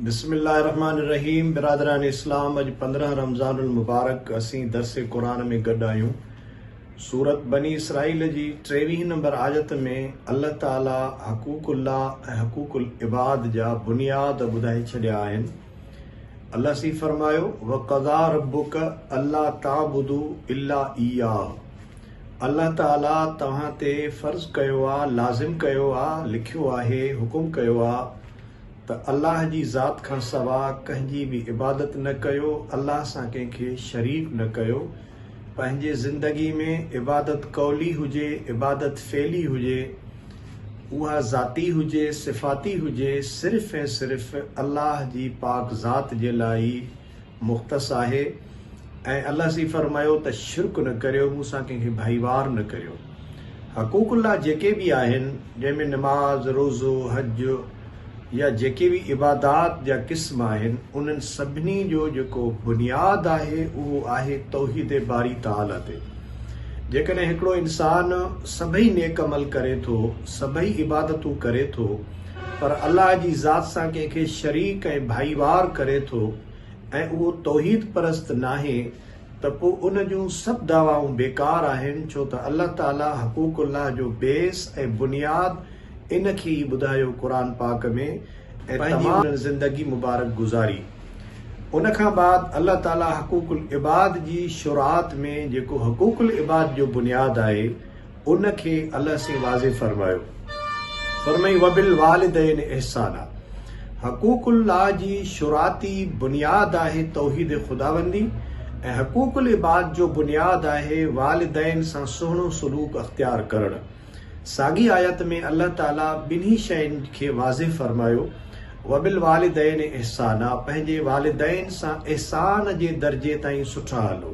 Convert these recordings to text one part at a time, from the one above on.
بسم الله الرحمٰن الرحيم برادران اسلام اڄ پندرهن رمضان المبارڪ اسين درس قرآن ۾ گڏ آهيون سورت بني اسرائيل جي ٽيويهين نمبر آيت ۾ الله تعالي حقوق الله ۽ حقوق العباد جا بنياد ٻڌائي ڇڏيا آهن الله سي فرمايو وقضا ربك الله تعبدو الا اياه الله تعالي توهان تي فرض ڪيو آ لازم ڪيو آ لکيو آهي حڪم ڪيو آ ته الله جي ذات کان سوا ڪنهن جي به عبادت نه ڪيو، الله سان ڪنهن کي شريڪ نه ڪيو، پنهنجي زندگي ۾ عبادت قولي هجي، عبادت فعلي هجي، اها ذاتي هجي، صفاتي هجي، صرف ۽ صرف الله جي پاڪ ذات جي لاء ئي مختص آهي ۽ الله سي فرمايو ته شرڪ نه ڪريو مون سان ڪنهن کي ڀائيوار نه ڪريو حقوق الله جيڪي به آهن جنهن ۾ نماز روزو حج يا جيڪي به عبادات جا قسم آهن انهن سڀني جو جيڪو بنياد آهي اهو آهي توحيد باري تعالي تي جيڪڏهن هڪڙو انسان سڀئي نيڪ عمل ڪري ٿو سڀئي عبادتون ڪري ٿو پر الله جي ذات سان ڪنهن کي شريڪ ۽ ڀائيوار ڪري ٿو ۽ اهو توحيد پرست ناهي ته پوء ان جون سڀ دعوائون بيڪار آهن ڇو ته الله تعالي حقوق الله جو بيس ۽ بنياد ان کي ئي ٻڌايو قرآن پاڪ ۾ ۽ پنهنجي انهن زندگي مبارڪ گذاري ان کان بعد الله تعالي حقوق العباد جي شرعات ۾ جيڪو حقوق العباد جو بنياد آهي ان کي الله سين واضح فرمايو فرمائي وبالوالدين احسانا حقوق الله جي شرعاتي بنياد آهي توحيد خداوندي ۽ حقوق العباد جو بنياد آهي والدين سان سهڻو سلوڪ اختيار ڪرڻ ساڳي آيت ۾ الله تعالي ٻنهي شين کي واضح فرمايو وبالوالدين احسانا پنهنجي والدين سان احسان جي درجي تائين سٺا هلو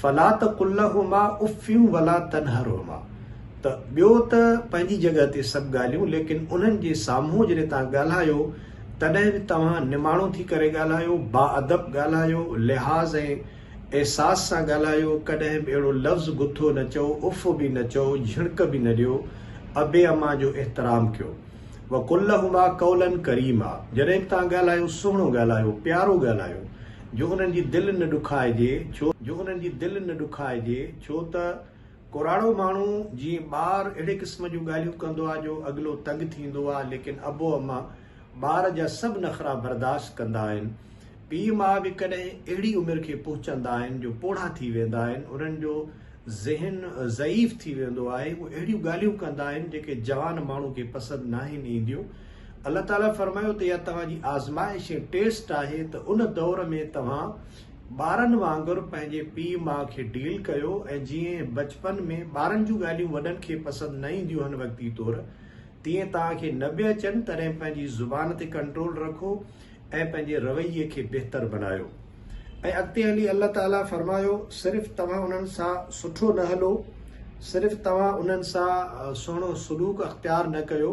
فلا تقل لهما اف ولا تنهرهما ته ٻيو ته پنهنجي جڳهه تي سڀ ڳالهيون ليڪن انهن جي سامهون جڏهن توهان ڳالهايو تڏهن به توهان نماڻو ٿي ڪري ڳالهايو، باادب ڳالهايو، لحاظ ۽ احساس سان ڳالهايو، ڪڏهن به اهڙو لفظ گٿو نه چئو، اف به نه چئو، جهڻڪ به نه ڏيو، ابي امان جو احترام ڪيو. وقل لهما قولا ڪريما جڏهن به توهان ڳالهايو سهڻو ڳالهايو، پيارو ڳالهايو. جو انهن جي دل نه ڏکائجي ڇو جو انهن جي دل نه ڏکائجي ڇو ته ڪوراڙو ماڻهو جيئن ٻار اهڙي قسم جون ڳالهيون ڪندو آهي جو اڳلو تنگ ٿيندو آهي ليڪن ابو اما ٻار جا سڀ نخرا برداشت ڪندا آهن پيء ماء به ڪڏهن اهڙي عمر کي پهچندا آهن جو پوڙها ٿي ويندا آهن انهن جو ذهن ضعيف ٿي ويندو آهي هو اهڙيون ڳالهيون ڪندا آهن جيڪي جوان ماڻهو کي پسند ناهن اينديون الله تعاليٰ فرمايو ته اها توهان جي آزمائش ۽ ٽيسٽ آهي ته ان دور ۾ توهان ٻارن وانگر پنهنجي پيء ماء کي ڊيل ڪيو ۽ جيئن بچپن ۾ ٻارن جون ڳالهيون وڏن کي پسند نه اينديون آهن وقتي طور تيئن توهان کي نه به اچن تڏهن پنهنجي زبان تي ڪنٽرول رکو ۽ پنهنجي رويي کي بهتر بنايو ۽ اڳتي هلي الله تعاليٰ فرمايو صرف توهان انهن سان سٺو نه هلو صرف توهان انهن سان سهڻو سلوڪ اختيار نه ڪيو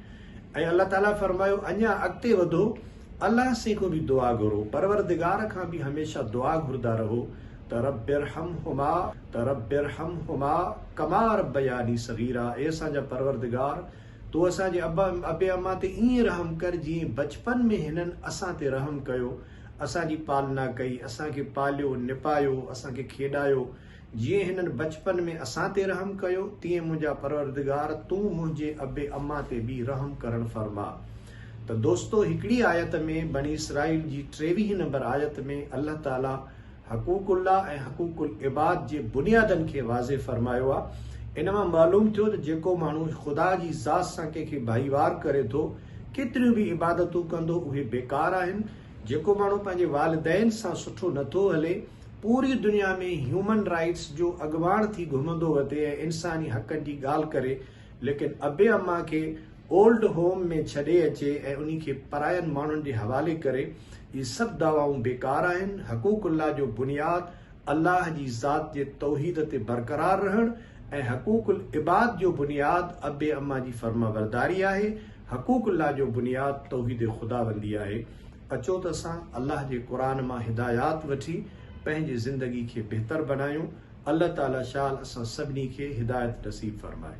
۽ الله تعالي فرمايو اڃا اڳتي وڌو الله سين کان به دعا گهرو پروردگار کان به هميشه دعا گهردا رهو ته رب ارحمهما ته رب ارحمهما ڪما ربياني صغيرا اي اسان جا پروردگار تو اسان جي ابا ابي اما تي ائين رحم ڪر جئين بچپن ۾ هنن اسان تي رحم ڪيو اسان جي پالنا ڪئي اسان کي پاليو نپايو اسان کي کيڏايو جيئن هنن بچپن ۾ اسان تي رحم ڪيو، تيئن منهنجا پروردگار تون منهنجي اب اما تي به رحم ڪرڻ فرما. ته دوستو هڪڙي آيت ۾ بني اسرائيل جي ٽيويهين نمبر آيت ۾ الله تعالي حقوق الله ۽ حقوق العباد جي بنيادن کي واضح فرمايو آ ان مان معلوم ٿيو ته جيڪو ماڻهو خدا جي ذات سان ڪنهن کي ڀائيوار ڪري ٿو ڪيتريون به عبادتون ڪندو اهي بيڪار آهن جيڪو ماڻهو پنهنجي والدين سان سٺو نٿو هلي، پوري دنيا ۾ هيومن رائيٽس جو اڳواڻ ٿي گهمندو وتي ۽ انساني حقن جي ڳالهه ڪري، ليڪن ابي اما کي اولڊ هوم ۾ ڇڏي اچي ۽ انهي کي پراين ماڻهن جي حوالي ڪري، اهي سڀ دعوائون بيڪار آهن، حقوق الله جو بنياد الله جي ذات جي توحيد تي برقرار رهڻ ۽ حقوق العباد جو بنياد اب اما جي فرمانبرداري آهي، حقوق الله جو بنياد توحيد خداوندي آهي، اچو ته اسان الله جي قرآن مان هدايات وٺي پنهنجي زندگي کي بهتر بنايون، الله تعالي شال اسان سڀني کي هدايت نصيب فرمائي.